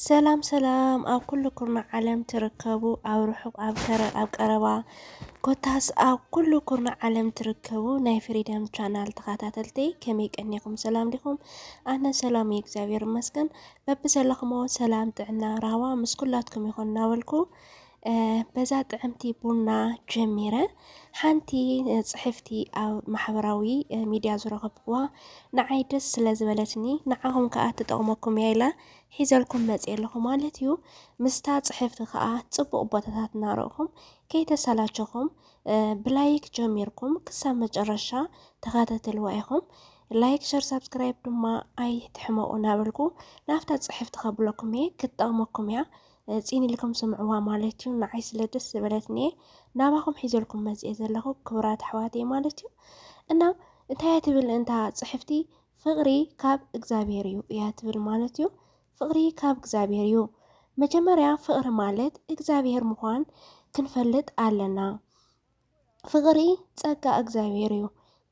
ሰላም ሰላም ኣብ ኩልኩም ዓለም ትርከቡ ኣብ ርሑቅ ኣብ ቀረባ ኮታስ ኣብ ኩሉ ኩርና ዓለም ትርከቡ ናይ ፍሪደም ቻናል ተኸታተልቲ ከመይ ቀኒኹም? ሰላም ዲኹም? ኣነ ሰላም እዩ እግዚኣብሔር ይመስገን። በብዘለኹሞ ሰላም፣ ጥዕና፣ ራህዋ ምስ ኩላትኩም ይኹን እናበልኩ በዛ ጥዕምቲ ቡና ጀሚረ ሓንቲ ፅሕፍቲ ኣብ ማሕበራዊ ሚድያ ዝረኸብኩዋ ንዓይ ደስ ስለ ዝበለትኒ ንዓኹም ከዓ ትጠቕመኩም እያ ኢላ ሒዘልኩም መፅ ኣለኹ ማለት እዩ። ምስታ ፅሕፍቲ ከዓ ፅቡቕ ቦታታት እናረእኹም ከይተሰላቸኹም ብላይክ ጀሚርኩም ክሳብ መጨረሻ ተኸታተልዋ ኢኹም። ላይክ ሸር ሳብስክራይብ ድማ ኣይትሕመቑ እናበልኩ ናብታ ፅሕፍቲ ከብለኩም እየ ክትጠቕመኩም እያ። ፂን ኢልኩም ስምዕዋ ማለት እዩ። ንዓይ ስለ ደስ ዝበለትኒ እየ ናባኹም ሒዘልኩም መፅኤ ዘለኹ ክቡራት ኣሕዋተይ ማለት እዩ እና እንታይ እያ ትብል እንታ ፅሕፍቲ ፍቕሪ ካብ እግዚኣብሔር እዩ እያ ትብል ማለት እዩ። ፍቕሪ ካብ እግዚኣብሔር እዩ። መጀመርያ ፍቕሪ ማለት እግዚኣብሔር ምዃን ክንፈልጥ ኣለና። ፍቕሪ ጸጋ እግዚኣብሔር እዩ።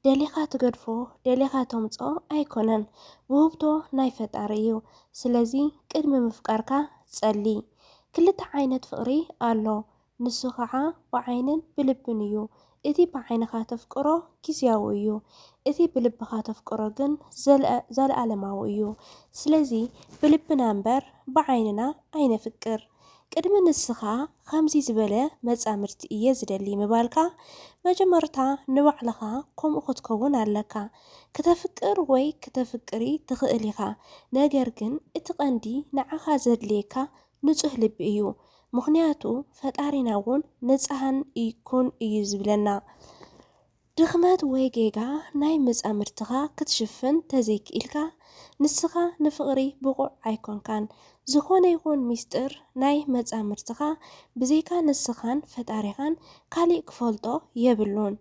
ደሊኻ ትገድፎ ደሊኻ ተምጽኦ ኣይኮነን ውህብቶ ናይ ፈጣሪ እዩ። ስለዚ ቅድሚ ምፍቃርካ ጸሊ። ክልተ ዓይነት ፍቕሪ ኣሎ ንሱ ኸዓ ብዓይንን ብልብን እዩ። እቲ ብዓይንኻ ተፍቅሮ ጊዝያዊ እዩ። እቲ ብልብኻ ተፍቅሮ ግን ዘለኣለማዊ እዩ። ስለዚ ብልብና እምበር ብዓይንና ኣይነፍቅር። ቅድሚ ንስኻ ኸምዚ ዝበለ መጻምድቲ እየ ዝደሊ ምባልካ፣ መጀመርታ ንባዕልኻ ከምኡ ኽትከውን ኣለካ። ክተፍቅር ወይ ክተፍቅሪ ትኽእል ኢኻ፣ ነገር ግን እቲ ቐንዲ ንዓኻ ዘድልየካ ንጹህ ልቢ እዩ። ምኽንያቱ ፈጣሪና እውን ንጽሃን ኩን እዩ ዝብለና። ድኽመት ወይ ጌጋ ናይ መጻምድትኻ ክትሽፍን ተዘይክኢልካ ንስኻ ንፍቕሪ ብቑዕ ኣይኮንካን። ዝኾነ ይኹን ሚስጥር ናይ መጻምድትኻ ብዘይካ ንስኻን ፈጣሪኻን ካሊእ ክፈልጦ የብሉን።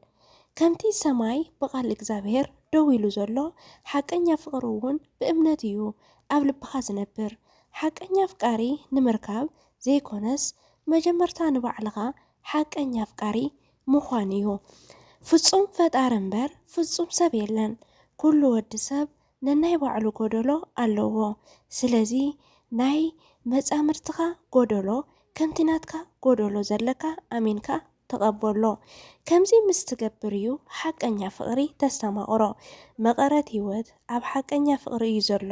ከምቲ ሰማይ ብቓል እግዝኣብሄር ደው ኢሉ ዘሎ ሓቀኛ ፍቕሪ እውን ብእምነት እዩ ኣብ ልብኻ ዝነብር። ሓቀኛ ኣፍቃሪ ንምርካብ ዘይኮነስ መጀመርታ ንባዕልኻ ሓቀኛ ኣፍቃሪ ምዃን እዩ። ፍጹም ፈጣሪ እምበር ፍጹም ሰብ የለን። ኩሉ ወዲ ሰብ ነናይ ባዕሉ ጎደሎ ኣለዎ። ስለዚ ናይ መጻምድትኻ ጎደሎ ከምቲ ናትካ ጎደሎ ዘለካ ኣሚንካ ተቐበሎ። ከምዚ ምስ ትገብር እዩ ሓቀኛ ፍቕሪ ተስተማቕሮ። መቐረት ህይወት ኣብ ሓቀኛ ፍቕሪ እዩ ዘሎ።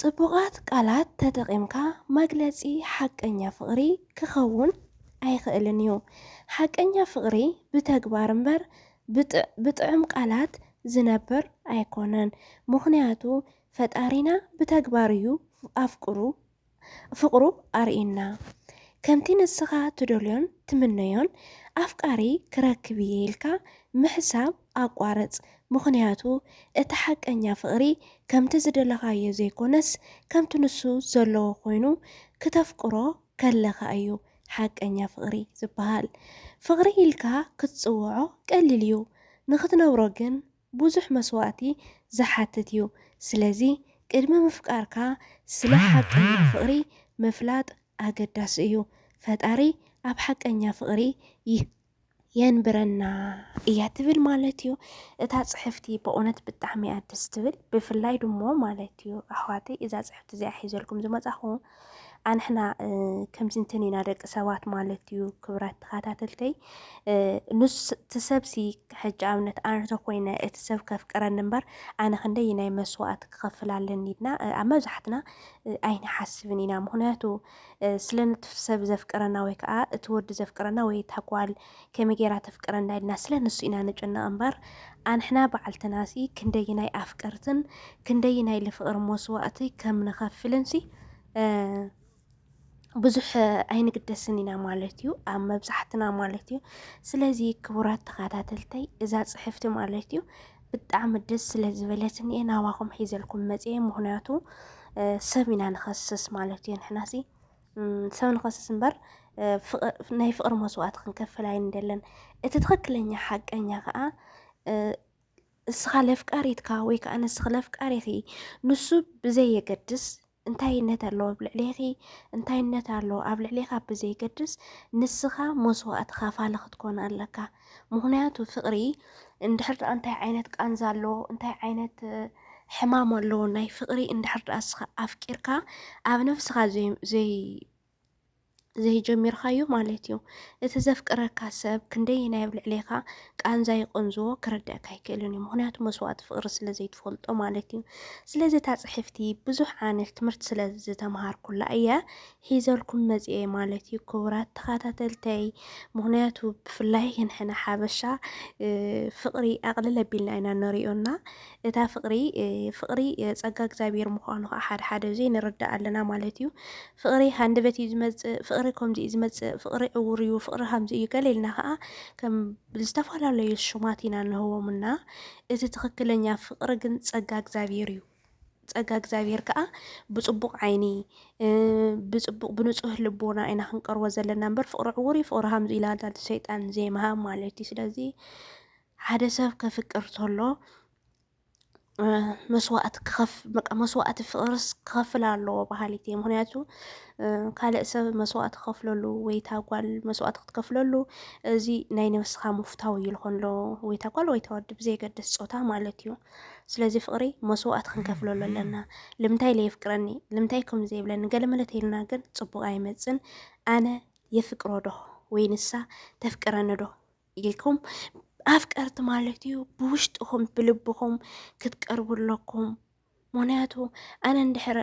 ጽቡቓት ቃላት ተጠቒምካ መግለጺ ሓቀኛ ፍቕሪ ክኸውን ኣይኽእልን እዩ። ሓቀኛ ፍቕሪ ብተግባር እምበር ብጥዑም ቃላት ዝነብር ኣይኮነን። ምኽንያቱ ፈጣሪና ብተግባር እዩ ኣፍቅሩ ፍቕሩ ኣርእየና። ከምቲ ንስኻ ትደልዮን ትምነዮን ኣፍቃሪ ክረክብ እየ ኢልካ ምሕሳብ ኣቋርጽ፣ ምኽንያቱ እቲ ሓቀኛ ፍቕሪ ከምቲ ዝደለኻዮ ዘይኮነስ ከምቲ ንሱ ዘለዎ ኮይኑ ክተፍቅሮ ከለኻ እዩ ሓቀኛ ፍቕሪ ዝበሃል። ፍቕሪ ኢልካ ክትጽውዖ ቀሊል እዩ፣ ንኽትነብሮ ግን ብዙሕ መስዋእቲ ዝሓትት እዩ። ስለዚ ቅድሚ ምፍቃርካ ስለ ሓቀኛ ፍቕሪ ምፍላጥ ኣገዳሲ እዩ። ፈጣሪ ኣብ ሓቀኛ ፍቕሪ የንብረና እያ ትብል ማለት እዩ እታ ጽሕፍቲ በእውነት ብጣዕሚ እያ ደስ ትብል ብፍላይ ድሞ ማለት እዩ ኣሕዋተይ እዛ ጽሕፍቲ እዚኣ ሒዘልኩም ዝመጻኹ ኣንሕና ከምዚ እንትን ኢና ደቂ ሰባት ማለት እዩ ክብራት ተኸታተልተይ ንሱ እቲ ሰብሲ ሕጂ ኣብነት ኣነ ተኮይነ እቲ ሰብ ከፍቅረኒ እምበር ኣነ ክንደይ ናይ መስዋእቲ ክኸፍል ኣለኒ ኢልና ኣብ መብዛሕትና ኣይንሓስብን ኢና ምክንያቱ ስለነቲ ሰብ ዘፍቅረና ወይ ከዓ እቲ ወዲ ዘፍቅረና ወይ ታጓል ከመይ ጌራ ተፍቅረና ኢልና ስለ ንሱ ኢና ንጭነቕ እምበር ኣንሕና ባዕልትናሲ ክንደይናይ ኣፍቀርትን ክንደይናይ ልፍቕሪ መስዋእቲ ከም ንኸፍልንሲ ብዙሕ ኣይንግደስን ኢና ማለት እዩ ኣብ መብዛሕትና ማለት እዩ። ስለዚ ክቡራት ተኸታተልተይ እዛ ፅሕፍቲ ማለት እዩ ብጣዕሚ ደስ ስለ ዝበለትኒ እየ ናባኹም ሒዘልኩም መፅየ ምኽንያቱ ሰብ ኢና ንኸስስ ማለት እዩ ንሕናሲ ሰብ ንኸስስ እምበር ናይ ፍቕሪ መስዋእቲ ክንከፍል ኣይንደለን። እቲ ትኽክለኛ ሓቀኛ ከዓ እስኻ ለፍቃሪትካ ወይ ከዓ ንስኺ ለፍቃሪኺ ንሱ ብዘየገድስ እንታይነት ኣለዎ ኣብ ልዕሌኺ እንታይነት ኣለዎ ኣብ ልዕሌኻ ብዘየገድስ ንስኻ መስዋእቲ ኻፋሊ ክትኮን ኣለካ። ምክንያቱ ፍቅሪ እንድሕር ድኣ እንታይ ዓይነት ቃንዛ ኣለዎ እንታይ ዓይነት ሕማም ኣለዎ ናይ ፍቅሪ እንድሕር ድኣ እስኻ ኣፍቂርካ ኣብ ነፍስኻ ዘይ ዘይጀሚርካዮ ማለት እዩ እቲ ዘፍቅረካ ሰብ ክንደይ ናይ ኣብ ልዕሌኻ ቃንዛ ይቆንዝዎ ክርድእካ ኣይክእልን እዩ ምክንያቱ መስዋእቲ ፍቅሪ ስለ ዘይትፈልጦ ማለት እዩ ስለዚ እታ ፅሕፍቲ ብዙሕ ዓነት ትምህርቲ ስለ ዝተምሃርኩላ እየ ሒዘልኩም መጺኤ ማለት እዩ ክቡራት ተኻታተልተይ ምኽንያቱ ብፍላይ ንሕና ሓበሻ ፍቕሪ ኣቕልል ኣቢልና ኢና ንሪኦ እና እታ ፍቕሪ ፍቕሪ ጸጋ እግዚኣብሔር ምዃኑ ከዓ ሓደ ሓደ ዜ ንርዳእ ኣለና ማለት እዩ ፍቕሪ ሃንደበት እዩ ዝመጽእ ፍቕሪ ከምዚ እዩ ዝመጽእ ፍቕሪ ዕውር እዩ ፍቕሪ ከምዚ እዩ ገለ ኢልና ከዓ ከም ዝተፈላለዩ ሽማት ኢና ንህቦም እና እቲ ትኽክለኛ ፍቕሪ ግን ጸጋ እግዚኣብሔር እዩ ጸጋ እግዚኣብሔር ከኣ ብጽቡቕ ዓይኒ ብጽቡቕ ብንጹህ ልቦና ኢና ክንቀርቦ ዘለና እምበር ፍቕሪ ዕውር እዩ ፍቕሪ ሃምዝ ኢላ ዛቲ ሰይጣን ዘይምሃብ ማለት እዩ። ስለዚ ሓደ ሰብ ከፍቅር ተሎ መስዋእቲ ክኸፍ በቃ መስዋእቲ ፍቕርስ ክኸፍል ኣለዎ በሃሊት እየ። ምክንያቱ ካልእ ሰብ መስዋእቲ ክኸፍለሉ ወይ እታ ጓል መስዋእቲ ክትከፍለሉ እዚ ናይ ነብስኻ ምፍታው እዩ ዝኾን ዶ ወይ እታ ጓል ወይ እታ ወዲ ብዘየገድስ ጾታ ማለት እዩ። ስለዚ ፍቅሪ መስዋእቲ ክንከፍለሉ ኣለና ልምንታይ ለየፍቅረኒ ልምንታይ ከምዚ ዘይብለኒ ገለመለ ተይልና ግን ጽቡቅ ኣይመጽን ኣነ የፍቅሮ ዶ ወይ ንሳ ተፍቅረኒ ዶ ኢልኩም ኣፍቀርቲ ማለት እዩ ብውሽጥኹም ብልብኹም ክትቀርቡ ኣለኩም ምክንያቱ ኣነ እንድሕር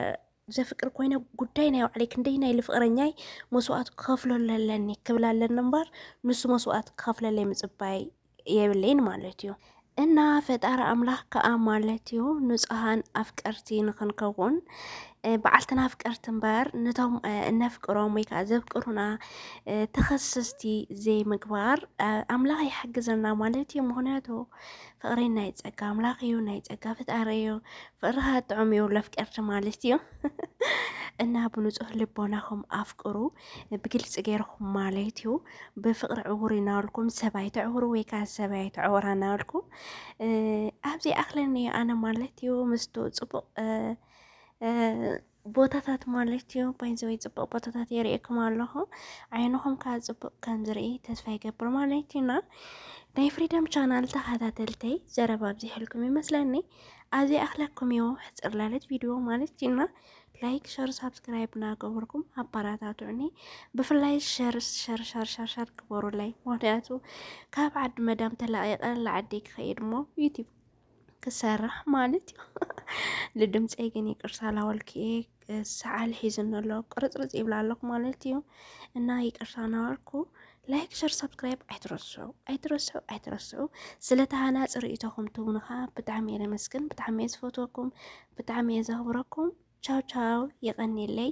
ዘፍቅር ኮይነ ጉዳይ ናይ ባዕለይ ክንደይ ናይ ልፍቅረኛይ መስዋእት ክከፍለሉ ኣለኒ ክብላ ኣለኒ እምበር ንሱ መስዋእት ክከፍለለይ ምፅባይ የብለይን ማለት እዩ። እና ፈጣሪ ኣምላኽ ከዓ ማለት እዩ ንፁሃን ኣፍቀርቲ ንክንከውን በዓልትና ኣፍቀርቲ እምበር ነቶም እነፍቅሮም ወይ ከዓ ዘፍቅሩና ተኸሰስቲ ዘይምግባር ኣምላኽ ይሓግዘና ማለት እዩ። ምክንያቱ ፍቅሪ ናይ ጸጋ ኣምላኽ እዩ፣ ናይ ጸጋ ፍጣሪ እዩ። ፍቅርኻ ጥዑም እዩ ለፍቀርቲ ማለት እዩ እና ብንጹህ ልቦናኹም ኣፍቅሩ ብግልፂ ገይርኹም ማለት እዩ። ብፍቅሪ ዕውር እናበልኩም ሰብ ኣይተዕውሩ ወይ ከዓ ሰብ ኣይተዕውራ እናበልኩም ኣብዚ ኣኽለኒ ኣነ ማለት እዩ ምስቱ ፅቡቅ ቦታታት ማለት እዩ ባይዘወይ ፅቡቅ ቦታታት የርእየኩም ኣለኹ ዓይንኹም ከዓ ፅቡቅ ከም ዝርኢ ተስፋ ይገብር ማለት እዩ እና ናይ ፍሪደም ቻናል ተኸታተልተይ ዘረባ ኣብዚሕልኩም ይመስለኒ ኣብዚ ኣኽለኩም እዮ ሕፅር ላለት ቪድዮ ማለት እዩና ላይክ ሸር ሳብስክራይብ እናገበርኩም ኣባራታቱዕኒ ብፍላይ ሸር ሸር ሸር ሸር ሸር ግበሩለይ ምክንያቱ ካብ ዓዲ መዳም ተላቂቀ ላዓዲ ክኸይድ ሞ ዩቲብ ክሰርሕ ማለት እዩ ልድምፀይ ግን ይቅርታ ላወልክየ ሰዓል ሒዝኒ ኣሎ ቅርፅርፅ ይብላ ኣለኩ ማለት እዩ እና ይቅርታ ናበልኩ ላይክ ሸር ሰብስክራይብ ኣይትረስዑ ኣይትረስዑ ኣይትረስዑ ስለ ተሃናፂ ርእቶኹም ትብኑ ከዓ ብጣዕሚ እየ ለመስግን ብጣዕሚ እየ ዝፈትወኩም ብጣዕሚ እየ ዘኽብረኩም ቻው ቻው ይቀኒለይ